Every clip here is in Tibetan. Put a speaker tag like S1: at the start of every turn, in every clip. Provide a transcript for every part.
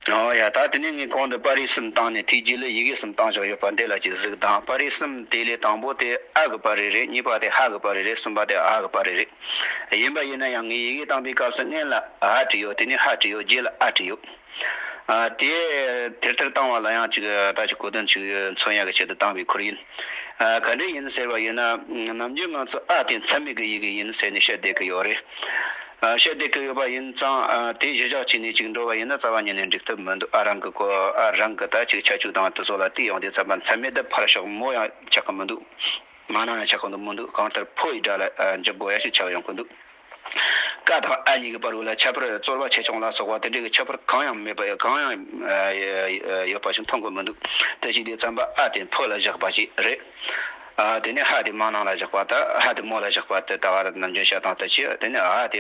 S1: ཡ་ད་དེ་ནས་ངས་གོང་དུ་པར་རིས་གསུམ་བཏང་ནས་ཐིག་རྗེས་ལ་ཡི་གེ་གསུམ་བཏང་ཆོག་ཡོད་པ་འདི་ལ་ཅིག་གཟིགས་དང་པར་རིས་གསུམ་དེ་ལས་དང་པོ་དེ་ཨ་གི་པར་རིས་རེད་གཉིས་པ་དེ་ཧ་གི་པར་རིས་རེད་གསུམ་པ་དེ་ཨ་གི་པར་རིས་རེད། ཡིན་པ་ཡིན་ན་ཡང་ངས་ཡི་གེ་བཏང་པའི་སྐབས་སུ་སྔན་ལ་ཨ་བྲིས་ཡོད་དེ་ནས་ཧ་བྲིས་ཡོད་རྗེས་ལ་ཨ་བྲིས་ཡོད། དེ་དེར་དེར་བཏང་བ་ལ་ཡང་ཅིག་ད་ཅིག་གོ་དོན་ཅིག་ཡོད་མཚོན་ཡག་གི་ཆེད་དུ་བཏང་བའི་ཁུར་ཡིན། ག་འདྲ་ཡིན་ཟེར་བ་ཡིན་ན་ནམ་རྒྱུན་ང་ཚོ་ཨ་དེ་འཚམས་མེད་གི་ཡི་གི་ཡིན་ཟེར་ནས་བཤད་བསྡད་གི་ཡོད་རེད། བཤད་བསྡད་གི་ཡོད་པ་ཡིན་ཙང་དེ་གཞི་བཞག་བྱས་ནས་ཅིག་འགྲོ་བ་ཡིན་ན་རྩ་བ་ཉིད་ནས་འགྲིག་ཐབས་མི་འདུག་ཨ་རང་གི་གོ་ཨ་རང་གི་ད་ཅིག་ཆ་བཅུག་དང་དེ་ཚོ་ལ་དེ་ཡོང་དེ་ཙམ་པ་འཚམས་མེད་དེ་ཕར་ཞོག་མོ་ཡང་ཆགས་གི་མི་འདུག་མ་ནང་ཡང་ཆགས་གི་འདུག་མི་འདུག་གང་ལྟར་ཕོ་ཡི་དགྲ་ལ་འཇབ་དགོས་ཡ་ཞིག་ཆགས་ཡོང་གི་འདུག། བཀའ་དང་ཨ་གཉིས་ཀྱི་བར་དབུ་ལ་ཁྱད་པར་རྩོལ་བ་ཆེ་ཆུང་ལ་སོགས་པ་དེ་འདྲའི་ཁྱད་པར་གང་ཡང་མེད་པ་གང་ཡང་ཡོད་པ་ཞིག་མཐོང་གི་མི་འདུག་དེ་ཞིག་དེ་ཙམ་པ་ཨ་དེ་འཕོ་ལ་བཞག་པ་ཞིག་རེད། དེ་ནས་ཧ་དེ་མ་ནང་ལ་བཞག་པ་དང་ཧ་དེ་མོ་ལ་བཞག་པ་དེ་ད་བར་ནམ་རྒྱུན་བཤད་སྟངས་དེ་ཆེ་དེ་ནས་ཨ་དེ་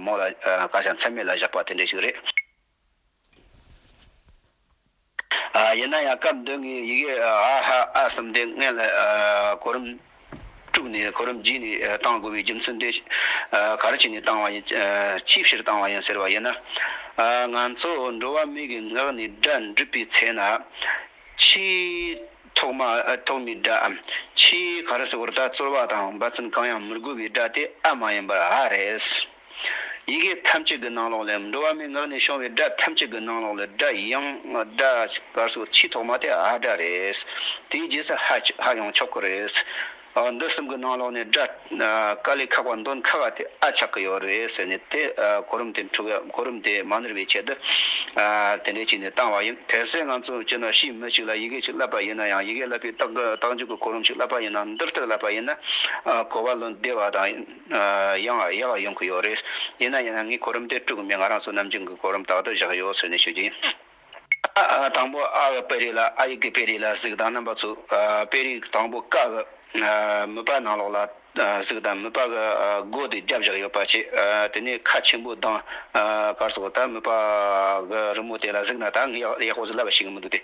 S1: མོ་ལ་སྐར་ཆ་མཚན་མེད་ལ་བཞག་པ་དེ་འདྲ་ཞིག་རེད། ཡིན་ན་ཡང་སྐབས་འདི་ངས་ཡི་གེ་ཨ་ཧ་ཨ་གསུམ་དེ་སྔོན་ལ་གོ་རིམ་དཀྲུགས་ནས་གོ་རིམ་བརྒྱུད་ནས་གཏང་དགོས་པའི་རྒྱུ་མཚན་དེ་ག་རེ་བྱས་ནས་བཏང་བ་ཡིན་ཅིའི་ཕྱིར་བཏང་བ་ཡིན་ཟེར་བ་ཡིན་ན། ང་ཚོ་འགྲོ་བ་མིའི་གི་ངག་ནས་སྒྲ་འགྲུབ་པའི་ཚེ་ན། ཕྱིའི་ཐོག་མ་ཐོག་མའི་སྒྲའམ་ཕྱིའི་ག་རེ་ཟེར་བར་ད་རྩོལ་བ་དང་འབའ་ཚུན་གང་ཡང་མི་དགོས་པའི་སྒྲ་དེ་ཨ་མ་ཡིན་པར་ཨ་རེད། ཡི་གེ་ཐམས་ཅད་ཀྱི་ནང་ལོགས་ལས་འགྲོ་བ་མའི་ངག་ནས་ཤོང་བའི་སྒྲ་ཐམས་ཅད་ཀྱི་ནང་ལོགས་ལས་སྒྲ་དབྱངས་སྒྲ་སྐར་སོགས་ཆེས་ཐོག་མ་དེ་ཨ་སྒྲ་རེད། དེའི་རྗེས་སུ་ཧ་ཧ་ཡང་ཆོག་གི་རེད། འདི་གསུམ་གྱི་ནང་ལོགས་ནས་སྒྲ་སྐར་ལས་ཁག་པ་འདོན་ཁག་དེ་ཨ་ཆགས་ཀྱི་ཡོད་རེད་ཟེར་ནས་དེ་གོ་རིམ་དེ་འཁྲུལ་བའི་གོ་རིམ་དེ་མ་ནོར་བའི་ཆེད་དུ་དེ་འདྲས་བྱས་ནས་བཏང་བ་ཡིན། གལ་སྲིད་ང་ཚོ་སྤྱིར་ན་ཕྱིའི་མི་ཞིག་ལ་ཡི་གེ་ཞིག་བསླབ་པ་ཡིན་ན་ཡང་ཡི་གེ་བསླབ་པའི་རྟགས་འཇུག་གི་གོ་རིམ་ཞིག་བསླབ་པ་ཡིན་ན་འདིར་ལྟར་བསླབ་པ་ཡིན་ན་གོ་བ་ལོན་བདེ་བ་དང། ཡང་ཡ་ལ་ཡོང་གི་ཡོད་རེད། ཡིན་ན་ཡང་ངས་གོ་རིམ་དེ་དཀྲུག་གི་མེད་ང་རང་ཚོ་ནམ་རྒྱུན་གྱི་གོ་རིམ་དག་ཏུ་བཞག་ཡོད་ཟེར་ནས་ཤོད་ཀྱི་ཡིན། དང་པོ་ཨ་གི་དཔེ་རིས་ལ་ཨ་ཡིག་གི་དཔེ་རིས་ལ་གཟིགས་དང་རྣམ་པ་ཚོས་དཔེ་རིས་དང་པོ་ཀ་གི་མུས་པ་ནང་ལོགས་ལ་གཟིགས་དང་མུས་པ་གི་སྒོ་དེ་རྒྱབ་བཞག་ཡོད་པ་བྱས་དེ་ནས་ཁ་ཆེན་པོ་དང། གར་སོགས་ད་མུས་པ་གི་རི་མོ་དེ་ལ་གཟིགས་ན་ད་ངས་ཡག་པོ་བཟོ་ལབ་པ་ཞིག་མི་འདུག་སྟེ།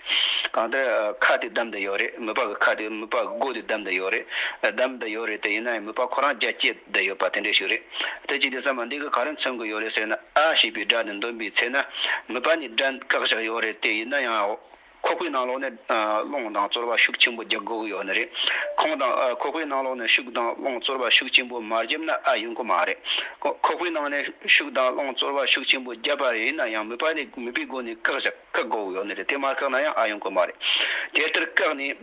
S1: གང་ལྟར་ཁ་དེ་བདམས་དུ་ཡོད་རེད་མུས་པ་གི་ཁ་དེ་མུས་པ་གི་སྒོ་དེ་བདམས་དུ་ཡོད་རེད། བདམས་དུ་ཡོད་རེད་དེ་ཡིན་ན་ཡང་མུས་པ་ཁོ་རང་རྒྱ་བསྐྱེད་དུ་ཡོད་པ་དེ་འདྲས་ཞིག་རེད། དེ་ཅི་སྟེ་ཟ་མ་འདི་གི་ག་རེ་མཚོན་གི་ཡོད་རེད་ཟེར་ན་ཨ་ཞེས་པའི་སྒྲ་དེ་འདོན་པའི་ཚེ་ན་མུས་པ་ནི་དགྲ་འགག་ཞིག་ཡོད་རེད་དེ་ཡིན་ན་ཡང་ཁོ་ཁོའི་ནང་ལོགས་ནས་རླུང་དང་རྩོལ་བ་ཤུགས་ཆེན་པོ་རྒྱག་དགོས་ཀྱི་ཡོད་ནི་རེད། ཁོང་དང་ཁོ་ཁོའི་ནང་ལོགས་ནས་ཤུགས་དང་རླུང་རྩོལ་བ་ཤུགས་ཆེན་པོ་མ་བརྒྱབ་ན་ཨ་ཡོང་གི་མ་རེད། ཁོ་ཁོའི་ནང་ནས་ཤུགས་དང་རླུང་རྩོལ་བ་ཤུགས་ཆེན་པོ་བརྒྱབ་པ་རེད་ན་ཡང་མོས་པ་ནས་མོས་པའི་སྒོ་ནས་བཀག་བཞག་བཀག་དགོས་ཀྱི་ཡོད་ནི་རེད་དེ་མ་བཀག་ན་ཡང་ཨ་ཡོང་གི་མ་རེད། དེ་ལྟར་བཀག་ནས་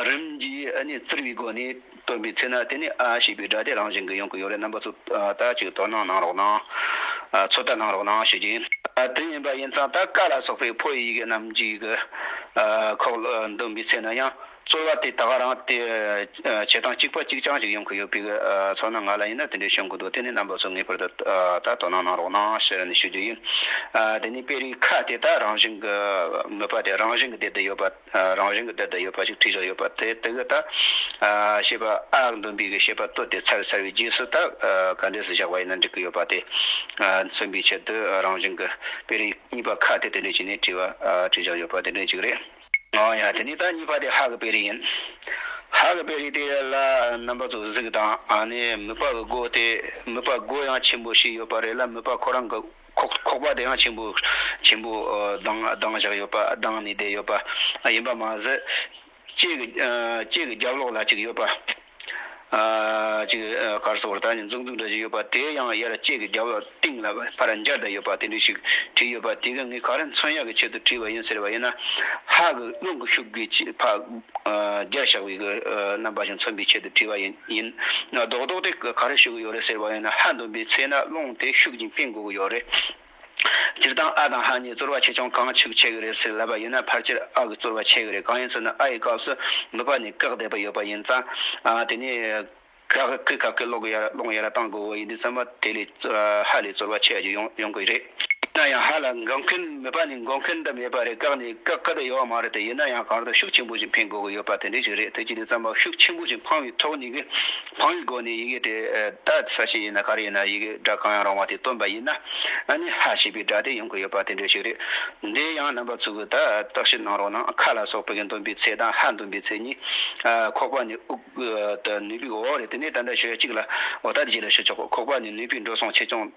S1: རིམ་གྱིས་བཙིར་བའི་སྒོ་ནས་སྟོན་པའི་ཚེ་ན་དེ་ནས་ཨ་ཞེས་པའི་སྒྲ་དེ་རང་བཞིན་གྱི་ཡོང་གི་ཡོད་རེད་རྣམ་པ་ཚོ་ད་ཅིག་དོ་སྣང་གནང་རོགས་གནང། ཚོད་ལྟ་གནང་རོགས་གནང་ཞུ་རྒྱུ་ཡིན། དེ་ཡིན་པ་ཡིན་ཙང་ད་ཀ་ལ་སོགས་པའི་ཕོ་ཡི་ཡི་གེ་རྣམས་ཀྱི་གི་ཁོག་ལ་འདོན་པའི་ཚེ་ན་ཡང་རྩོལ་བ་དེ་དག་རང་དེ་བྱེད་སྟངས་གཅིག་པ་གཅིག་རྐྱང་ཞིག་ཡོང་གི་ཡོད་པའི་ཚོར་སྣང་ང་ལ་ཡིན་ན་དེ་འདྲའི་བྱུང་གི་འདུག་དེ་ནས་རྣམ་པ་ཚོ་ངེས་པར་དུ་ད་དོ་སྣང་གནང་རོགས་གནང་ཞེས་ཞུ་རྒྱུ་ཡིན། དེ་ནས་དཔེ་རིས་ཁ་དེ་དག་རང་བཞིན་གྱི་མོས་པ་དེ་རང་བཞིན་གྱི་དེ་དུ་ཡོད་པ། རང་བཞིན་གྱི་དེ་ལྟར་ཡོད་པ་ཞིག་ཁྲིད་བཞག་ཡོད་པ་དེ་དེ་གའི་དག། ཞེས་པ་ཨཱ་འདོན་པའི་གི་ཞེས་པ་སྟོད་དེ་ཚར་ཚར་བའི་རྗེས་སུ་དག་ག་འགྲེས་སུ་བཞག་པ་ཡིན་ན་འགྲིག་གི་ཡོད་པ་དེ། མཚོན་པའི་ཆེད་དུ་རང་བཞིན་གྱི་དཔེ་རིས་གཉིས་པ་ཁ་དེ་དེ་འདྲས་བྱས་ནས་བྲིས་པ་ཁྲིད་བཞག་ཡོད་པ་དེ་འདྲས་ཅིག་རེད། ཡང་ཡང་དེ་ནས་དག་གཉིས་པ་དེ་ཧ་གི་དཔེ་རིས་ཡིན། ཧ་གི་དཔེ་རིས་དེ་ལ་རྣམ་པ་ཚོ་གཟུགས་དང་ནི་མོས་པ་གི་སྒོ་དེ་མོས་པ་སྒོ་ཡང་ཆེན་པོ་ཞིག་ཡོད་པ་རེད་ལ་མོས་པ་ཁོ་རང་གི། ཁོག་པ་དེ་ཡང་ཆེན་པོ་ཆེན་པོ་ལྡང་ལྡང་བཞག་ཡོད་པ་ལྡང་ནས་བསྡད་ཡོད་པ་ཡིན་པ་མ་ཟད། ལྕེ་གི་ལྕེ་གི་རྒྱབ་ལོགས་ལ་གཅིག་ཡོད་པ། གཅིག་དཀར་སོགས་ད་ནི་འཛུག་འཛུག་འདྲ་ཞིག་ཡོད་པ་དེ་ཡང་དབྱར་ལྕེ་གི་རྒྱབ་ལོགས་སྟེང་ལ་ཕར་འབྱར་བསྡད་ཡོད་པ་དེ་འདྲ་ཞིག་བྲིས་ཡོད་པ་དེ་ག་ངས་ག་རེ་མཚོན་ཡག་གི་ཆེད་དུ་བྲིས་པ་ཡིན་ཟེར་བ་ཡིན་ན། ཧ་གི་རླུང་གི་ཤུགས་ཀྱིས་ཕག་རྒྱར་བཞག་པའི་རྣམ་པ་ཞིག་མཚོན་པའི་ཆེད་དུ་བྲིས་པ་ཡིན། ཡིན། རྡོག་རྡོག་དེ་ག་རེ་ཞུ་གི་ཡོད་རེད་ཟེར་བ་ཡིན་ན་ཧ་འདོན་པའི་ཚེ་ན་རླུང་དེ་ཤུགས་ཀྱིས་འཕེན་དགོས་ཀྱི་ཡོད་རེད། སྤྱིར་བཏང་ཨ་དང་ཧ་གཉིས་རྩོལ་བ་ཆེ་ཆུང་གང་ཞིག་བྱེད་ཀྱི་རེད་ཟེར་ལབ་པ་ཡིན་ན་ཕར་ཆེར་ཨ་གི་རྩོལ་བ་ཆེ་གི་རེད་གང་ཡིན་ཚོད་ན་ཨ་ཡི་སྐབས་སུ་ནུབ་པ་ནས་བཀག་བསྡད་པ་ཡོད་པ་ཡིན་ཙང། དེ་ནས་ག་གི་ག་གི་སློག་གི་ཡ་ར་སློང་གི་ཡ་ར་བཏང་དགོས་ཀྱི་ཡོད་འདི་ཙམ་པ་དེ་ལས་ཧ་ལས་རྩོལ་བ་ཆེ་བ་ཞིག་ཡོང་ཡོང་གི་རེད། ཡིན་ན་ཡང་ཧ་ལ་འགོག་མཁན་མེད་པ་ནི་འགོག་མཁན་འདྲ་མེད་པ་རེད་བཀག་ནས་བཀག་ག་དུ་ཡོད་མ་རེད་དེ་ཡིན་ན་ཡང་གང་ལྟར་ཤུགས་ཆེན་པོ་ཞིག་འཕེན་དགོས་ཀྱི་ཡོད་པ་དེ་འདྲས་ཞིག་རེད་དེ་ཅི་ནས་བརྩམས་པ་ཤུགས་ཆེན་པོ་ཞིག་འཕང་བའི་ཐོག་ནས་འཕང་བའི་སྒོ་ནས་ཡི་གེ་དེ་ད་ས་ཞིག་ཡིན་ན་ག་རེ་ཡིན་ན་ཡི་གེ་སྒྲ་གང་ཡང་རུང་བ་དེ་བཏོན་པ་ཡིན་ན་ནི་ཧ་ཞེས་པའི་སྒྲ་དེ་ཡོང་གི་ཡོད་པ་དེ་འདྲས་ཞིག་རེད་འདི་ཡང་རྣམ་པ་ཚུགས་ཀྱི་ད་བརྟག་ཞིབ་གནང་རོགས་གནང་ཁ་ལ་སོགས་པའི་གི་འདོན་པའི་ཚད་དང་ཧ་འདོན་པའི་ཚད་གཉིས་ཁོག་པ་ནས་དབུགས་ནུས་པའི་འོག་རེད་དེ་ནས་ད་ལྟ་ཞོལ་གཅིག་ལ་འོ་ད་ལྟ་གཅིག་ལ་ཞུ་ཆོག་གོ་ཁོག་པ་ནས་ནུས་པའི་འགྲོ་སོང་ཆེ་ཆུང་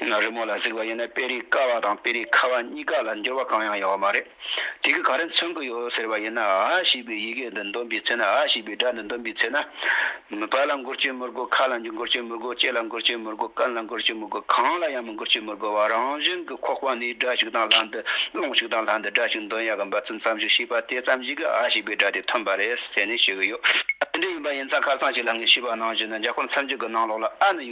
S1: རི་མོ་ལ་གཟིགས་པ་ཡིན་ན་དཔེ་རིས་དཀར་བ་དང་དཔེ་རིས་ཁ་བ་གཉིས་ཀ་ལ་འགྱུར་བ་གང་ཡང་ཡོད་མ་རེད། དེ་གིས་ག་རེ་མཚོན་གྱི་ཡོད་ཟེར་བ་ཡིན་ན་ཨ་ཞེས་པའི་ཡི་གེ་འདི་འདོན་པའི་ཚེ་ན་ཨ་ཞེས་པའི་སྒྲ་འདི་འདོན་པའི་ཚེ་ན། བལ་ལ་མགུར་སྐྱོན་མི་དགོས་ཁ་ལ་མགུར་སྐྱོན་མི་དགོས་ལྕེ་ལ་མགུར་སྐྱོན་མི་དགོས་སྐམ་ལ་མགུར་སྐྱོན་མི་དགོས་གང་ལ་ཡང་མགུར་སྐྱོན་མི་དགོས་པར་རང་བཞིན་གྱི་ཁོག་པ་ནས་སྒྲ་ཞིག་དང་ལྷ་འདི་ཀློང་ཞིག་དང་ལྷ་འདི་སྒྲ་ཞིག་འདོན་ཡག་གི་འབའ་ཚུལ་ཙམ་ཞིག་ཤེས་པ་དེ་ཙམ་གྱིས་ཀྱི་ཨ་ཞེས་པའི་སྒྲ་དེ་ཐོན་པ་རེད་ཟེར་ནས་ཤོད་ཀྱི་ཡོད། དེ་འདྲ་ཡིན་པ་ཡིན་ཙང་ཁ་སང་ཞིག་ལ་ངས་ཤེས་པ་གནང་བཞིན་ན་རྒྱ་གོར་མཚམས་བརྒྱུད་ཀྱི་ནང་ལོགས་ལ་ཨ་ནི་ཡོད།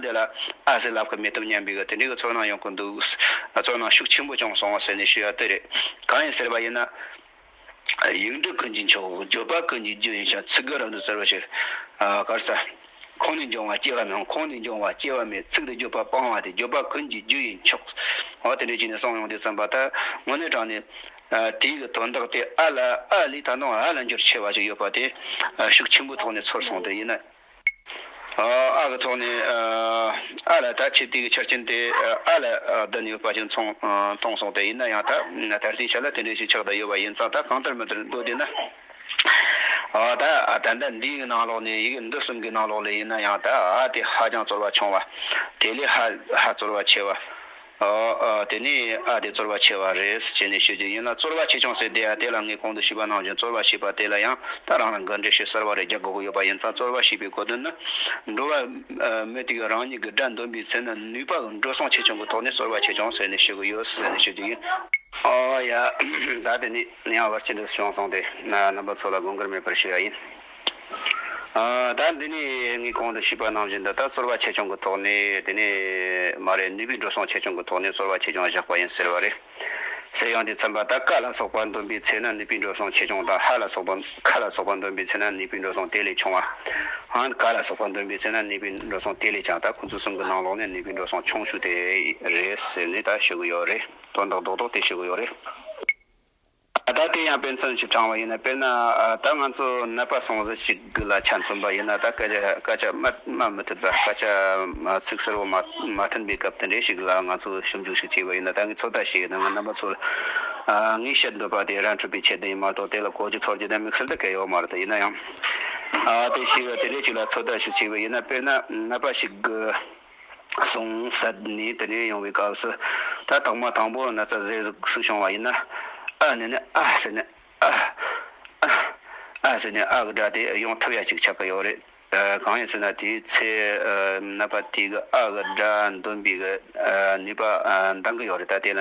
S1: འདི་ལ་ཨ་ཟེར་ལབ་ཁ་མེད་སྟབས་སྙམ་པའི་གི་དེ་འདྲའི་གི་ཚོར་སྣང་ཡོང་གི་འདུག་ཚོར་སྣང་ཤུགས་ཆེན་པོ་བྱུང་སོང་ཟེར་ནས་ཞུ་ཡག་ལྟོས་རེད། གང་ཡིན་ཟེར་བ་ཡིན་ན། ཡིག་འབྲུ་ཀུན་གྱི་མཆོག་བརྗོད་པ་ཀུན་གྱི་རྒྱུ་ཡིན་ཞིང་ཚིག་གི་རང་དུ་གསལ་བ་ཞིག། གར་ས། ཁོང་ནས་འབྱུང་བ་སྐྱེ་བ་མེད་ཁོང་ནས་འབྱུང་བ་སྐྱེ་བ་མེད་ཚིག་འདི་བརྗོད་པ་སྤང་བ་དེ་བརྗོད་པ་ཀུན་གྱི་རྒྱུ་ཡིན་མཆོག། ཨོ་དེ་འདྲའི་ཅིག་ནས་གསང་ཡོང་དུས་བརྩམས་པ་ལྟར་དངོས་གནས་དྲང་ནས། དེའི་གི་དོན་དག་དེ་ཨ་ལ་ཨ་ལས་ད་དུང་ཧ་ལ་འགྱུར་ཆེ་བ་ཞིག་ཡོད་པ་དེ། ཤུགས་ཆེན་པོའི་ཐོག་ནས་ཚོར་སོང་དེ་ཡིན་ན། ཨ་གི་ཐོག་ནས་ཨ་ལ་ད་ཆེད་བསྟུན་གྱི་ཆ་རྐྱེན་དེ་ཨ་ལ་བསྡུ་ནས་ཡོད་པ་ཅིག་མཐོང་སོང་སྟེ་ཡིན་ན་ཡང་ད་ད་ལྟའི་ཆ་ལ་དེ་འདྲའི་ཞིག་ཆགས་བསྡད་ཡོད་པ་ཡིན་ཙང་ད་གང་ལྟར་མི་འདིར་འགྲོ་བསྡད་ན་ད་ད་ལྟ་འདིའི་ནང་ལོགས་ནས་ཡི་གེ་འདི་གསུམ་གྱི་ནང་ལོགས་ལས་ཡིན་ན་ཡང་ད་ཨ་དེ་ཧ་ཅང་བཙོར་བ་ཆུང་བ་དེ་ལས་ཧ་ཧ་བཙོར་བ་ཆེ་བ། དེ་ནས་ཨ་དེ་རྩོལ་བ་ཆེ་བ་རེད་ཅེས་ནས་ཤོད་རྒྱུ་ཡིན་ལ་རྩོལ་བ་ཆེ་ཆུང་ཟེར་དེ་ཨ་དེ་ལ་ངས་གོང་དུ་ཞུས་པ་ནང་བཞིན་རྩོལ་བ་ཞེས་པ་དེ་ལ་ཡང་ད་རང་རང་གི་འགྲེལ་བཤད་གསར་བ་རེ་རྒྱག་དགོས་ཀྱི་ཡོད་པ་ཡིན་ཙང་རྩོལ་བ་ཞེས་པའི་གོ་དོན་ནི། འགྲོ་བ་མི་དེ་གིས་རང་ཉིད་ཀྱི་དགྲ་འདོམས་པའི་ཚེ་ན་ནུས་པ་འགྲོ་སོང་ཆེ་ཆུང་གི་ཐོག་ནས་རྩོལ་བ་ཆེ་ཆུང་ཟེར་ནས་ཤོད་ཀྱི་ཡོད་ཟེར་ནས་ཤོད་རྒྱུ་ཡིན། ཨོ་ཡ། ད་དེ་ནས་ཡང་བར་ཆད་འདི་བྱུང་སོང་སྟེ། རྣམ་པ་ཚོ་ལ་དགོངས་འགལ་མེད་པར་ཞུ་ཡ་ཡིན། ད་འདི་ནས་ངས་གོང་དུ་ཞུས་པ་ནང་བཞིན་དུ་ད་རྩོལ་བ་ཆེ་ཆུང་གི་ཐོག་ནས་དེ་ནས་མ་རེད་ནུས་པའི་འགྲོ་སོང་ཆེ་ཆུང་གི་ཐོག་ནས་རྩོལ་བ་ཆེ་ཆུང་བཞག་པ་ཡིན་ཟེར་བ་རེད། ཟེར་ཡང་དེ་ཚན་པ་ད་ཀ་ལ་སོགས་པ་འདོན་པའི་ཚེ་ན་ནུས་པའི་འགྲོ་སོང་ཆེ་ཆུང་དང་ཧ་ལ་སོགས་པ་ཁ་ལ་སོགས་པ་འདོན་པའི་ཚེ་ན་ནུས་པའི་འགྲོ་སོང་དེ་ལས་ཆུང་བའང་ཀ་ལ་སོགས་པ་འདོན་པའི་ཚེ་ན་ནུས་པའི་འགྲོ་སོང་དེ་ལས་ཀྱང་ད་ཁོང་ཚོ་གསུམ་གྱི་ནང་ལོགས་ནས་ནུས་པའི་འགྲོ་སོང་ཆུང་ཤོས་དེ་རེད་ཟེར་ནས་ད་ཞུ་གི་ཡོད་རེད་དོན་དག་རྡོག་རྡོག་དེ་ཞུ་གི་ཡོད་རེད། ད་ལྟ་དེ་ཡང་དཔེ་མཚོན་གྱིས་དྲངས་བ་ཡིན་ན་དཔེར་ན་ད་ང་ཚོ་ནད་པ་སོང་ཟིན་ཞིག་ལ་ཆ་མཚོན་པ་ཡིན་ན་ད་སྐད་ཆ་སྐད་ཆ་སྨྲ་མི་ཐུབ་པ་སྐད་ཆ་ཚིག་ཟུར་བོ་མ་མཐུན་པའི་སྐབས་དེ་འདྲའི་ཞིག་ལ་ང་ཚོས་ཞིབ་འཇུག་ཞིག་བྱས་པ་ཡིན་ན་ད་ངས་ཚོད་ལྟ་བྱས་ཡོད་ན་ང་རྣམ་པ་ཚོར་ངས་བཤད་འདོད་པ་དེ་རང་འཁྲུལ་པའི་ཁྱད་ལྡན་ཡིན་མ་གཏོགས་དེ་ལ་གོ་རྒྱུ་ཚོར་རྒྱུ་དེ་དམིགས་བསལ་དུ་གལ་ཡོད་མ་རེད་ཡིན་ན་ཡང་དེ་ཞིག་དེ་འདྲའི་ཞིག་ལ་ཚོད་ལྟ་ཞིག་བྱས་པ་ཡིན་ན་དཔེར་ན་ནད་པ་ཞིག་གསུངས་ཟད་ནས་དེ་ནས་ཡོང་བའི་སྐབས་སུ། ད་དང་མ་དང་པོ་ན་ཚ་ཟེར་གཟུགས་སུ་བྱུང་བ་ཡིན་ན། ཨ་ནི་ནི་ཨ་ཟེར་ནས་ཨ། ཨ། ཨ་ཟེར་ནས་ཨ་གི་སྒྲ་དེ་ཡོང་ཐུབ་ཡ་གཅིག་ཆགས་ཀྱི་ཡོད་རེད། གང་ཡིན་ཟེར་ན་དེའི་ཚེ་ན་པ་དེ་གི་ཨ་གི་སྒྲ་འདོན་པའི་གི་ནུས་པ་འདང་གི་ཡོད་རེད་ད་དེ་ལ་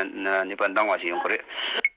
S1: ནུས་པ་འདང་བ་ཞིག་ཡོང་གི་རེད།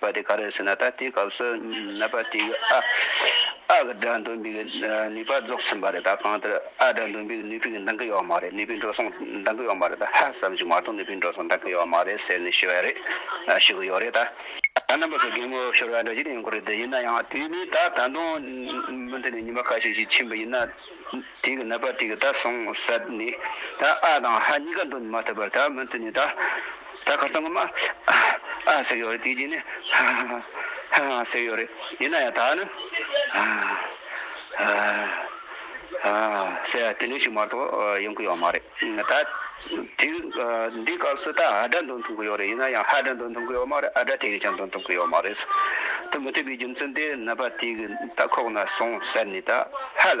S1: པ་དེ་ག་རེ་ཟེར་ན་ད་ལྟའི་སྐབས་སུ་ནད་པ་དེ་གི་ཨ་ཨ་གི་དགྲ་འདུལ་བའི་ནུས་པ་རྫོགས་ཟིན་པ་རེད་ད་གང་ལྟར་ཨ་དགྲ་འདུལ་བའི་ནུས་པའི་འདང་གི་ཡོད་མ་རེད་ནུས་པའི་འགྲོ་སོང་འདང་གི་ཡོད་མ་རེད་ད་ཧ་བསམ་གྱི་མ་གཏོགས་ནུས་པའི་འགྲོ་སོང་འདང་གི་ཡོད་མ་རེད་ཟེར་ནས་ཤི་བ་རེད་ཤི་གི་ཡོད་རེད་ད། ད་རྣམ་པ་ཚོ་དགེ་བསྔོ་ཤོར་བ་འདྲ་ཅི་ཡོང་གི་རེད་ཡིན་ན་ཡང་དུས་ནི་ད་ད་དུང་མུ་མཐུད་ནས་ཉིན་པ་ཁ་ཤས་ཤིག་ཕྱིན་པ་ཡིན་ན། དེ་གི་ནད་པ་དེ་གི་ད་སོང་སད་ནི་ད་ཨ་དང་ཧ་གཉིས་ཀ་འདོན་མ་ཐུབ་པར་ད་མི་མཐུན་ནི་ད་ད་ཁར་སང་གི་མ་ཨ་ཨ་ཟེར་གི་ཡོད་རེད་དེ་རྗེས་ནི་ཧ་ཧ་ཧ་ཧ་ཧ་ཟེར་གི་ཡོད་རེད་ཡིན་ན་ཡང་ད་ནི་ཧ་ཧ་ཧ་ཧ་ཟེར་ཡ་དེ་འདྲ་ཞིག་མ་གཏོགས་ཡོང་གི་ཡོད་མ་རེད་ད་དེ་འདི་སྐབས་སུ་ད་ཨ་སྒྲ་འདོན་ཐུབ་ཀྱི་ཡོད་རེད་ཡིན་ན་ཡང་ཧ་སྒྲ་འདོན་ཐུབ་ཀྱི་ཡོད་མ་རེད་ཨ་སྒྲ་དེ་གི་ཀྱང་འདོན་ཐུབ་ཀྱི་ཡོད་མ་རེད་ད་མི་མཐུན་པའི་རྒྱུ་མཚན་དེ་ནད་པ་དེ་གི་ད་ཁོག་ན་སོང་སད་ནི་ད་ཧ་ལ་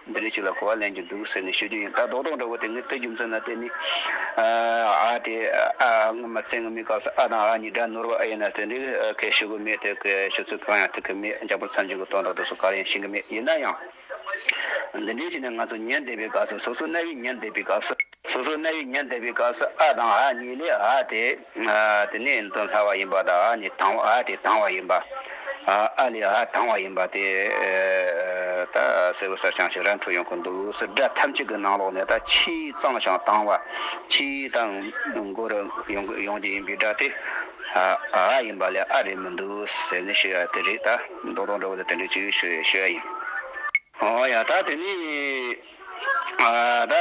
S1: འདི་རིགས་ཅིག་ལ་གོ་བ་ལེན་གྱི་འདུག་ཟེར་ནས་ཤོད་རྒྱུ་ཡིན་ད་རྡོག་རྡོག་འདྲ་བོ་དེ་ནི་ལྟོས་རྒྱུ་མཚོན་ན་དེ་ནི་ཨ་དེ་ཨ་སྔོན་མ་བཙན་དངོས་མིན་སྐབས་སུ་ཨ་དང་ཨ་གཉིས་དགྲ་ནོར་བ་ཨེ་ཡིན་ན་དེ་འདྲའི་ཁའི་ཤོད་གི་མེད་དེ་ཁའི་ཤོད་ཚུལ་གང་ཡང་ཐུག་གི་མེད་རྒྱ་བོད་ཚང་གཅིག་གི་སྟོང་དང་དུག་སོགས་གར་ཡང་ཤེས་གི་མེད་ཡིན་ན་ཡང་འདི་འདྲའི་ཆེད་ནས་ང་ཚོ་ཉལ་བསྡད་པའི་སྐབས་སུ་སོ་སོ་རྣ་བའི་ཉལ་བསྡད་པའི་སྐབས་སུ། སོ་སོའི་གནས་ཡུལ་ཉེར་འདེགས་པའི་སྐབས་སུ་ཨ་དང་ཨ་གཉིས་ལས་ཨ་དེ་དེ་ནས་འདོན་སླ་བ་ཡིན་པ་དང་ཨ་ནི་དང་བ་ཨ་དེ་དང་བ་ཡིན་པ། ཨ་ལས་ཨ་དང་བ་ཡིན་པ་དེ་ད་གསལ་བོ་གསལ་བྱང་ཞིག་ར་འཕྲོད་ཡོང་གི་འདུག་སི་སྒྲ་ཐམས་ཅད་ཀྱི་ནང་ལོགས་ནས་ད་ཕྱིའི་གཙང་ཞང་དང་བ་ཕྱིའི་ད་མགོ་རུ་ཡོང་གི་ཡིན་པའི་སྒྲ་དེ་ཨ་ཡིན་པ་ལས་ཨ་རེད་མི་འདུག་ཟེར་ནས་ཤི་ཡ་དེ་རེད་ད་མདོ་དང་འདྲ་བོ་དེ་དེ་འདྲའི་ཆོས་ཞུ་ཡ་ཞུ་ཡ་ཡིན། ཨོ་ཡ་ད་དེ་ནས། ད།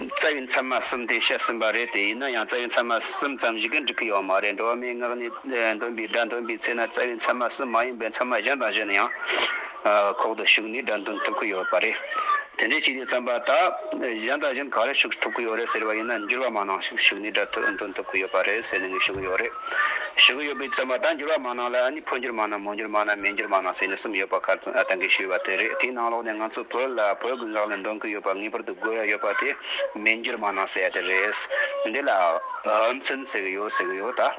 S1: རྩ་བའི་མཚན་མ་གསུམ་དེ་བཤད་ཟིན་པ་རེད་དེ་ཡིན་ན་ཡང་རྩ་བའི་མཚན་མ་གསུམ་ཙམ་ཞིག་གིས་འགྲིག་གི་ཡོད་མ་རེད་འགྲོ་བ་མིའི་ངག་ནས་འདོན་པའི་སྒྲ་འདོན་པའི་ཚེ་ན་རྩ་བའི་མཚན་མ་གསུམ་མ་ཡིན་པའི་མཚན་མ་གཞན་དང་གཞན་ཡང་ཁོག་ཏུ་ཞུགས་ནས་སྒྲ་འདོན་ཐུབ་ཀྱི་ཡོད་པ་རེད། དེ་འདྲའི་ཆེད་དུ་བརྩམས་པ་ད། གཞན་དང་གཞན་ག་རེ་ཞུགས་ཐུབ་ཀྱི་ཡོད་རེད་ཟེར་བ་ཡིན་ན་འགྱུར་བ་མང་ནང་ཞིག་ཞུགས་ནས་སྒྲ་འདོན་ཐུབ་ཀྱི་ཡོད་པ་རེད་ཟེར་ནས་ངས་ཞུ་གི་ཡོད་རེད། ཞུ་གི་ཡོད་པའི་བཙོན་པ་དང་འགྱུར་བ་མང་ན་ལ་ནི་འཕོ་འགྱུར་མང་ན་མོ་འགྱུར་མང་ན་མེ་འགྱུར་མང་ན་ཟེར་ནས་གསུམ་ཡོད་པ་ཁ་ཚོན་ཨ་ཐང་གིས་ཞུས་པ་དེ་རེད་དེའི་ནང་ལོགས་ནས་ང་ཚོ་བོད་ལ་བོད་དགུན་ལག་ལས་འདོན་གི་ཡོད་པ་ངེས་པར་དུ་དགོས་ཡ་ཡོད་པ་དེ་མེ་འགྱུར་མང་ན་ཟེར་ཡ་དེ་རེད། འདི་ལ་ཨམ་ཚིན་ཟེར་གི་ཡོད་ཟེར་གི་ཡོད་ད།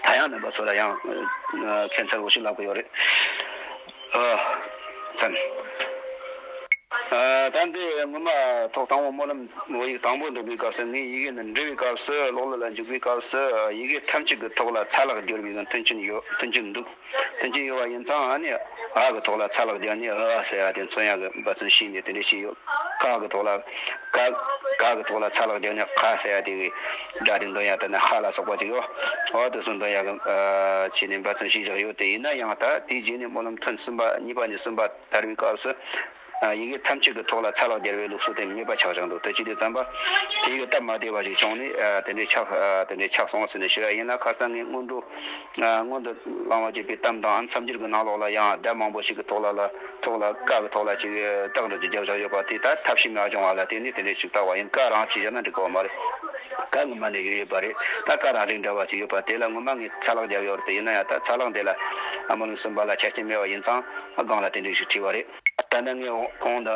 S1: ད་ཡང་འདོན་པ་ཚོ་ལ་ཡང་ཁྱད་མཚར་བོ་ཞིག་ལབ་གི་ཡོད་རེད། ཨ། ཙམ། ཨ། ད་འདི་སྔོན་མ་ཐོག་དང་པོ་སྨོན་ལམ་བོད་ཡིག་དང་པོ་འདོན་པའི་སྐབས་སུ་ངས་ཡི་གེ་འདི་འབྲི་བའི་སྐབས་སུ་ཀློག་ཀློག་ལ་འཇུག་པའི་སྐབས་སུ་ཡི་གེ་ཐམས་ཅད་ཀྱི་ཐོག་ལ་ཚ་ལག་བསྒྱུར་བའི་མཐུན་རྐྱེན་ཡོད་མཐུན་རྐྱེན་འདུག་མཐུན་རྐྱེན་ཡོད་པ་ཡིན་ཙང་ཨ་ནི་ཨ་གི་ཐོག་ལ་ཚ་ལག་བསྒྱུར་ནས་ཨ་ཟེར་བ་དེ་མཚོན་ཡག་གི་འབའ་མཚོན་ཤེས་ནས་དེ་འདྲས་བྱས་ཡོད་ཀ་གི་ཐོག་ལ་ཀ། ཀ་གི་ཐོག་ལ་ཚ་ལག་བསྒྱུར་ནས་ཁ་ཟེར་བ་དེ་གི། སྒྲ་དེ་འདོན་ཡག་ལྟ་ན་ཧ་ལ་སོགས་པ་ཅིག་ཨོ་ཨོ་དེ་གསུངས་འདོན་ཡག་གི་ནས་འབའ་ཚུན་ཞིག་བཞག་ཡོད་དེ་ཡིན་ན་ཡང་ད་དེའི་རྗེས་ནས་སྨོན་ལམ་ཐུན་གསུམ་པ་གཉིས་པ་ནས་གསུམ་པ་དར་བའི་སྐབས་སུ་ཡི་གེ་ཐམས་ཅད་ཀྱི་ཐོག་ལ་ཚ་ལག་སྦྱར་བའི་ལུགས་སྲོལ་དེ་མེད་པ་ཆགས་བཞག་འདུག་དེ་ཅི་སྟེ་བརྩམས་པ་དེ་ཡོད་སྟབས་མ་བདེ་བ་ཞིག་བྱུང་ནས་དེ་འདྲའི་ཆགས་དེ་འདྲའི་ཆགས་སོང་ཟེར་ནས་ཞུ་ཡག་ཡིན་ལ་ཁར་ཚང་ངས་སྔོན་འགྲོ། སྔོན་དུ་བླང་བར་བྱེད་པའི་གཏམ་དང་མཚམས་སྦྱོར་གྱི་ནང་ལོགས་ལ་ཡང་སྒྲ་མང་པོ་ཞིག་གི་ཐོག་ལ་ལ་ཐོག་ལ་ཀ་གི་ཐོག་ལ་ཅེས་པའི་སྟག་འགྲོས་ཀྱི་རྒྱབ་བཞག་ཡོད་པ་དེ་ལྟར་ཐབས་ཤེས་མ་བྱུང་བ་ལ་དེ་ནི་དེ་འདྲའི་ཞིབ་བཏགས་བ་ཡིན་ཀ་རང་ཅེས་བྱ་ན་འགྲིག་པ་མ་རེད། ཀ་ངོ་མ་ནས་ཡོད་ཡོད་པ་རེད་ད་ཀ་རང་རིགས་འདྲ་བ་ཞིག་ཡོད་པ་དེ་ལ་ངོ་མ་ངས་ཚ་ལག་བརྒྱབ་ཡོད་རེད་ཡིན་ན་ཡང་ད་ཚ་ལག་འདི་ལ་མ་ལུས་གསུངས་པ་ལ་ཆ་རྐྱེན་མེད་བ་ཡིན་ཙང་སྒང་ལ་དེ་འདྲའི་ཞིག་བྲིས་བ་རེད། ད་ནི་ངས་གོང་དུ།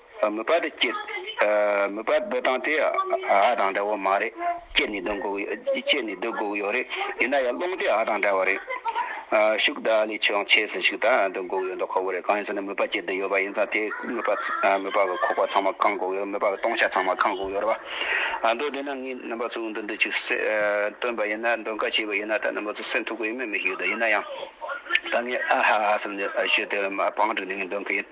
S1: མུ་པ་དེ་སྐྱེད། མུ་པ་སྡོད་སྟངས་དེ་ཨ་དང་འདྲ་བོ་མ་རེད། སྐྱེད་ནས་སྡོད་དགོས། སྐྱེད་ནས་སྡོད་དགོས་ཡོད་རེད། ཡིན་ན་ཡང་སློང་དེ་ཨ་དང་འདྲ་བ་རེད། ཤུགས་ད་ཨ་ལས་ཆེའང་ཆེ་ཟིན་ཞིག་དང་སྡོད་དགོས་ཡོད་མདོག་ཁོ་བོ་རེད་གང་ཡིན་ཟེར་ན་མུ་པ་སྐྱེད་དུ་ཡོད་པ་ཡིན་ཙང་དེ་མུ་པ་མུ་པ་གི་ཁོག་པ་ཚང་མ་བཀང་དགོས་ཡོད་མུ་པ་གི་སྟོང་ཆ་ཚང་མ་བཀང་དགོས་ཡོད་རེད་པ། ཨ་མདོ་དེ་ན་ངས་རྣམ་པ་ཚོ་འུ་འདི་འདི་ཅིག་སྟོན་པ་ཡིན་ན་འདོན་ཀ་བྱས་པ་ཡིན་ན་ད་རྣམ་པ་ཚོ་སེམས་ཐུག་གི་ཡོད་མེད་མི་ཤེས་གི་འདུག་ཡིན་ན་ཡང། ད་ངས་ཨ་ཧ་ཧ་ཧ་ཟེར་ནས་ཞུས་དེ་བང་བསྒྲིགས་ནས་ངས་འདོན་གི་ཡིན།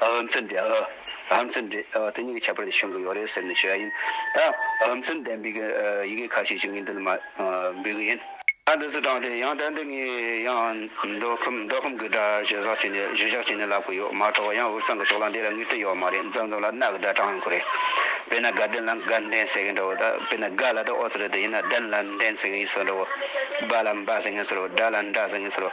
S1: ཨུ་ཚུགས་འདི་ཨུ་ཚུགས་འདི་དེ་གཉིས་ཀྱི་ཁྱད་པར་དེ་ཤོང་གི་ཡོད་རེད་ཟེར་ནས་བྱས་ཡིན། ད་ཨུ་ཚུགས་ལྡན་པའི་ཡི་གེ་ཁ་ཤས་ཤིག་ངས་འདི་ལ་མ་འབུལ་གི་ཡིན། ད་འདི་ཚོ་དྲངས་ཏེ་ཡང་དོན་དུ་ངས་ཡང་འདོད་ཁོམ་འདོད་ཁོམ་གི་སྒྲ་བཤད་ཟག་བྱས་ནས་བཤད་བཞག་བྱས་ནས་ལབ་གི་ཡོད་མ་གཏོགས་ཡང་འུར་ཚང་གི་ཕྱོགས་ལ་འདི་ལ་ངེས་དོན་ཡོད་མ་རེད་མཛངས་མཛངས་ལ་གནག་གི་སྒྲ་དྲངས་ཡོང་གི་རེད། དཔེར་ན་དགའ་ལྡན་ལ་དགའ་ལྡན་ཟེར་གི་འདྲ་བོ་ད་དཔེར་ན་དགའ་ལ་ད་ཨོ་ཚོད་རེད་དེ་ཡིན་ན་ལྡན་ལ་ལྡན་ཟེར་གི་ཡིན་ཟེར་བ་འདྲ་བོ། སྦ་ལ་འབའ་ཟེར་ངེས་ཟེར་བ་སྦྲ་ལ་འདྲ་ཟེར་ངེས་ཟེར་བ་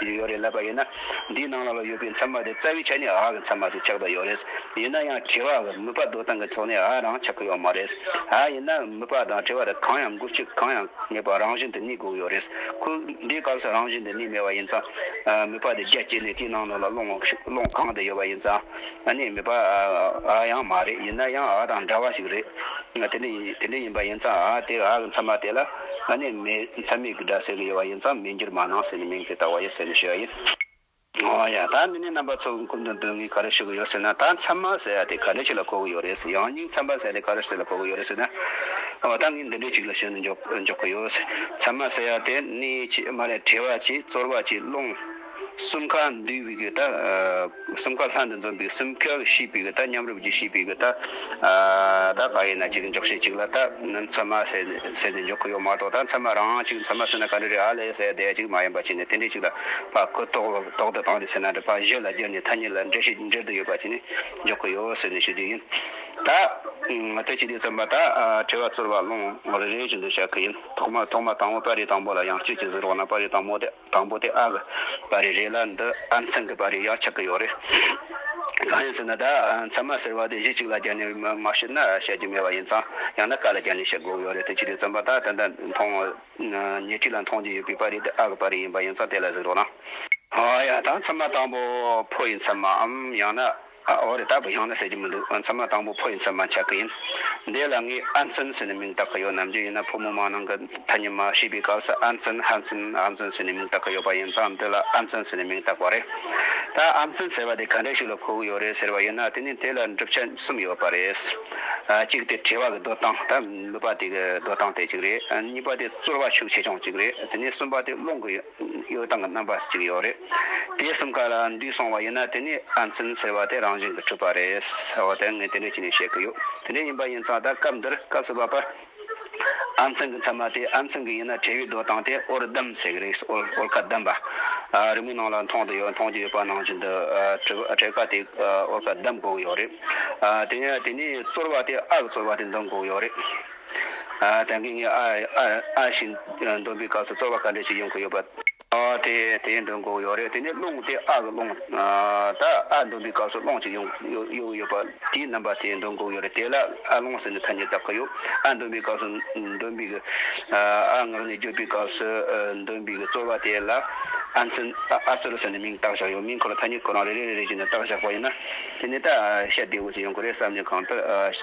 S1: ཡོད་ཡོད་རེད་ལབ་པ་ཡིན་ན་འདིའི་ནང་ལ་ལ་ཡོད་པའི་མཚན་མ་དེ་རྩ་བའི་ཆ་ནས་ཨ་གི་མཚན་མ་ཞིག་ཆགས་པ་ཡོད་རེད། ཡིན་ན་ཡང་དྲི་བ་གི་མུས་པ་བཟློག་སྟངས་ཀྱི་ཐོག་ནས་ཨ་རང་ཆགས་ཀྱི་ཡོད་མ་རེད། ཨ་ཡིན་ན་མུས་པ་དང་དྲི་བ་དེ་གང་ཡང་མགུར་ཆུ་གང་ཡང་མེད་པར་རང་བཞིན་དུ་གནས་དགོས་ཀྱི་ཡོད་རེད། ཁོས་འདིའི་སྐབས་སུ་རང་བཞིན་དུ་གནས་མེད་པ་ཡིན་ཙང། མུས་པ་དེ་རྒྱ་བསྐྱེད་ནས་དེའི་ནང་ནས་ལ་སློང་གང་དེ་ཡོད་པ་ཡིན་ཙང། ཨ་ནེ་མེད་པ་ཨ་ཡང་མ་རེད་ཡིན་ན་ཡང་ཨ་དང་འདྲ་བ་ཞིག་རེད། དེ་འདྲ་དེ་འདྲ་ཡིན་པ་ཡིན་ཙང་ཨ་དེ་ཨ་གི་མཚན་མ་དེ་ལ་ཨ་ནེ་མེད་མཚན་མེད་ཀྱི་སྒྲ་ཟེར་གྱི་ཡོད་པ་ཡིན་ཙང་མིང་འགྱུར་མ་གནང་ཟེར་ནས་མིང་དེ་ལྟ་བ་ཡོད་ཟེར་ནས་ཞུ་བ་ཡིན། ཨོ་ཡ་ད་མི་སྣའི་རྣམ་པ་ཚོ་གི་ཀུན་ཏུ་འདོད་ངེས་ག་རེ་ཞུ་གི་ཡོད་ཟེར་ན་ད་མཚན་མ་ཟེར་ཡ་དེ་ག་འདྲ་ཞིག་ལ་གོ་གི་ཡོད་རེད་ཟེར་ཡང་སྙིང་མཚན་མ་ཟེར་ཡ་དེ་ག་རེ་ཟེར་ལ་གོ་གི་ཡོད་རེད་ཟེར་ན་ཨོ་ད་ངས་འདི་འདྲ་ཞིག་ལ་ཞུ་ནས་འཇོག་གི་ཡོད་ཟེར་མཚན་མ་ཟེར་ཡ་དེ་གནས་ཀྱི་མ་རེད་བྲལ་བ་ཀྱི་རྩོལ་བ་ཀྱི་རླུང། གསུམ་ཀ་འདུས་པའི་གདགས། གསུམ་ཀ་ལྷ་འདི་འཛོམས་པའི་གསུམ་ཀའི་གཤིས་པའི་གདགས་མཉམ་རུབ་ཀྱི་གཤིས་པའི་གདགས། བདག་གང་ཡིན་ན་གཅིག་འཇོག་བྱེད་གཅིག་ལ་བཏགས། མཚན་མ་ཟེར་ནས་འཇོག་གི་ཡོད་མ་གཏོགས་ད་མཚན་མ་རང་དབང་གཅིག་མཚན་མ་ཟེར་ན་ག་འདྲ་རེད་ཨ་ལས་ཟད་དེ་གཅིག་མ་ཡིན་པ་བྱས་ནས་དེ་འདྲའི་གཅིག་ལ་བག་གོ་ལྟོག་ལ་ལྟོག་དུ་བཏང་སྟེ་ཟེར་ན་འདྲ་བག་གཞི་ལ་བསྒྱུར་ནས་ཐ་སྙད་ལ་འདྲེ་ཞིག་འདྲེར་དུ་ཡོད་པ་བྱས་ནས་འཇོག་གི་ཡོད་ཟེར་ནས་ཞུ་རྒྱུ་ཡིན། ད་ཐེངས་སྤྱི་བདེ་རྩོམ་པ་དག་དྲི་བ་ཚོར་བ་ཀློང་རེ་རེ་བཞིན་དུ་བཤད་ཀི་ཡིན། ཐོག་མ་ཐོག་མ་དང་བོ་པར་རིས་དང་པོ་ལ་ཡང་སྤྱོད་ཀྱི་ཟིག་རོགས་ན་པར་རིས་དང་མོ་དེ། དང་པོ་དེ་ཨ་གི་བ་རེ་རེད་ལ་འདི་ཨ་མཚན་གི་བ་རེ་ཡང་ཆགས་ཀྱི་ཡོད་རེད། གང་ཡིན་ཟེར་ན་ད་མཚན་མ་ཟེར་བ་དེ་གཞི་གཅིག་ལ་བརྒྱབ་ནས་མ་བཤད་ན་བཤད་རྒྱུ་མེད་པ་ཡིན་ཙང་ཡང་ན་ཀ་ལ་བརྒྱབ་ནས་བཤད་དགོས་ཡོད་རེད་དེ་ཕྱི་དྲོའི་རྩོམ་པ་དག་ད་ལྟ་མཐོང་ཉེ་འཁྲིས་ལ་མཐོང་རྒྱུ་ཡོད་པའི་བ་རེ་དེ་ཨ་གི་བ་རེ་ཡིན་པ་ཡིན་ཙང་དེ་ལ་གཟིགས་རོགས་གནང། ཡང་ད་མཚན་མ་དང་པོ་ཕོ་ཡི་མཚན་མའམ་ཡང་ན། འོ་རེད་ད་བུ་ཡང་ན་ཟེར་གྱི་མི་འདུག་མཚན་མ་དང་པོ་ཕོ་ཡིན་ཚད་མ་ཆགས་ཀྱི་ཡིན། འདས་ལ་ངས་ཨ་འཛིན་ཟེར་ནས་མིང་བཏགས་ཀྱི་ཡོད་ནམ་རྒྱུན་ཡིན་ན་ཕོ་མོ་མང་ནང་གི་ཐ་སྙད་མ་ཤེས་པའི་སྐབས་སུ་ཨ་འཛིན་ཧ་འཛིན་ཨ་འཛིན་ཟེར་ནས་མིང་བཏགས་ཀྱི་ཡོད་པ་ཡིན་ཙང་འདི་ལ་ཨ་འཛིན་ཟེར་ནས་མིང་བཏགས་པ་རེད། ད་ཨ་འཛིན་ཟེར་བ་དེ་ག་འདྲ་ཞིག་ལ་གོ་གི་ཡོད་རེད་ཟེར་བ་ཡིན་ན་དེ་ནི་དེ་ལ་འགྲུབ་ཆ་གསུམ་ཡོད་པ་རེད། གཅིག་སྟེ་དྲི་བ་གི་འདོད་སྟངས་ད་ནུས་པ་དེ་གི་འདོད་སྟངས་དེ་གཅིག་རེད། གཉིས་པ་དེ་རྩོལ་བ་ཤུགས་ཆེ་ཆུང་གཅིག་རེད་དེ་ནས་གསུམ་པ་དེ་སློང་གི་ཡོད། གཡོ་སྟངས་རྣམ་པ་གཅིག་ཡོད་རེད། དེ་གསུམ་ཀ་ལ་འདུས་སོང་བ་ཡིན་ན་དེ་ནི་ཨ་འཛིན་ཟེར་བ་དེ་རང་བཞིན་གྱི་གྲུབ་པ་རེད། འོ་དེ་ངས་དེ་འདྲའི་ཆེད་ནས་བཤད་ཀྱི་ཡོད། དེ་འདྲའི་ཡིན་པ་ཡིན་ཙང་ད་སྐབས་འདིར་སྐབས་སུ་བབ་པར། ཨ་འཛིན་གྱི་མཚན་མ་དེ་ཨ་འཛིན་གྱི་ཡིན་ན་དྲེའུའི་རྡོ་དང་དེ་ཨོར་སྡམ་ཟེར་གྱི་རིགས་ཨོར་ཁ་སྡམ་པ། རི་མོའི་ནང་ལ་མཐོང་དུ་ཡོད་མཐོང་རྒྱུ་ཡོད་པ་ནང་བཞིན་དུ་དྲེའུ་ཁ་དེ་ཨོར་ཁ་སྡམ་དགོས་ཀྱི་ཡོད་རེད། དེ་ནས་དེ་ནས་བཙོར་བ་དེ་ཨ་གི་བཙོར་བ་དེ་འདོན་དགོས་ཀྱི་ཡོད་རེད། དེང་གི་ངའི་ཨ་ཞེས་འདོན་པའི་སྐབས་སུ་རྩོལ་བ་ག་འདྲ་ཞིག་ཡོང་གི་ཡོད་པ། དེའི་འདོན་གོ་ཡོད་རེད་དེ་ནས་རླུང་དེ་ཨ་གི་རླུང། ད་ཨ་འདོན་པའི་སྐབས་སུ་རླུང་ཞིག་ཡོང་གི་ཡོད་པ། དེའི་རྣམ་པ་དེའི་འདོན་གོ་ཡོད་རེད་དེ་ལ་ཨ་རླུང་ཟེར་ནས་ཐ་སྙད་གདབ་ཀི་ཡོད། ཨ་འདོན་པའི་སྐབས་སུ་འདོན་པའི་གི། ཨ་ངག་ནས་བརྗོད་པའི་སྐབས་སུ་འདོན་པའི་གི་རྩོལ་བ་དེ་ལ་ཨ་རྩོལ་ཟེར་ནས་མིང་བཏགས་བཞག་ཡོད། མིང་ཁོ་ལ་ཐ་སྙད་ཁོ་རང་རེ་རེ་རེ་རེ་བཞིན་བཏགས་བཞག་པ་ཡིན་ན། དེ་ནས་ད་ཤ་བདེ་བོ་ཞིག་ཡོང་གི་རེད་བསམ་ནས་གང་ལྟར་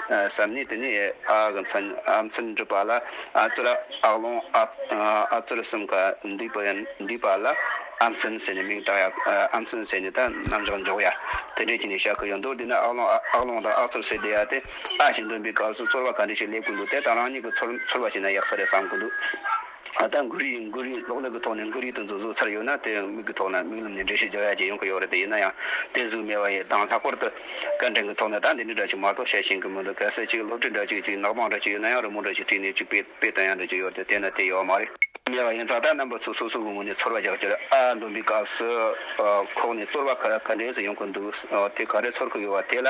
S1: བསམ་ནས་དེ་ནས་ཨ་ཨ་གི་མཚན་ཨ་མཚན་འབྲི་པ་ལ་ཨ་ཙི་ར་ཨག་ལོང་ཨ་ཨ་ཙི་ར་གསུམ་ག་འདུས་པ་ཡ་འདུས་པ་ལ་ཨ་མཚན་ཟེར་ནས་མིང་བཏགས་ཡ་ཨ་མཚན་ཟེར་ནས་ད་རྣམ་གཞག་འཇོག་ཡ་དེ་འདྲས་ཀྱིས་ནས་བཞག་གི་ཡོད་འདུག་འདི་ན་ཨག་ལོང་ཨག་ལོང་དང་ཨག་ཚོར་ཟེར་བསྡད་ཡ་དེ་ཨ་ཞིག་འདོན་པའི་སྐབས་སུ་ཚོར་བ་ག་འདྲས་ཞིག་སླེབས་གི་འདུག་དེ་ད་རང་ཉིད་ཀྱི་ཚོར་བ་ཞིག་ན་ཡག་ས་རེད་བསམ་གི་འདུག། ད་ལྟ་འགུལ་རིས་འགུལ་རིས་གློག་ཀླད་ཀྱི་ཐོག་ནས་འགུལ་རིས་དུ་འཛུགས་ཚར་ཡོད་ན་དེ་མིག་གི་ཐོག་ན་མིག་ལམ་ནས་འགྲེལ་བཤད་རྒྱག་ཡ་གཅིག་ཡོང་གི་ཡོད་རེད་ཡིན་ན་ཡང་དེ་གཟུགས་མེད་པ་ཡི་གདངས་ལྷག་པར་དུ་སྐད་འཕྲིན་གྱི་ཐོག་ནས་ད་འདི་འདྲ་འདྲ་གཅིག་མ་གཏོགས་བཤད་ཤེས་གི་མི་འདུག་གལ་སྲིད་གཅིག་སློབ་ཁྲིད་འདྲ་གཅིག་གཅིག་ནག་པང་འདྲ་གཅིག་ཡོད་ན་ཡང་རི་མོ་འདྲ་གཅིག་བྲིས་ནས་གཅིག་དཔེ་དཔེ་དང་ཡང་འདྲ་གཅིག་ཡོད་དེ་དེ་ན་དེ་ཡོད་མ་རེད། ཉེ་བ་ཡིན་ཙང་ད་རྣམ་པ་ཚོ་སོ་སོ་གི་ངོས་ནས་ཚོར་བ་རྒྱག་རྒྱུར་ཨ་འདོན་པའི་སྐབས་སུ་ཁོག་ནས་ཚོར་བ་ག་འདྲས་སུ་ཡོང་གི་འདུག་དེ་ག་འདྲས་ཚོར་གི་ཡོད་བ་དེ་ལ།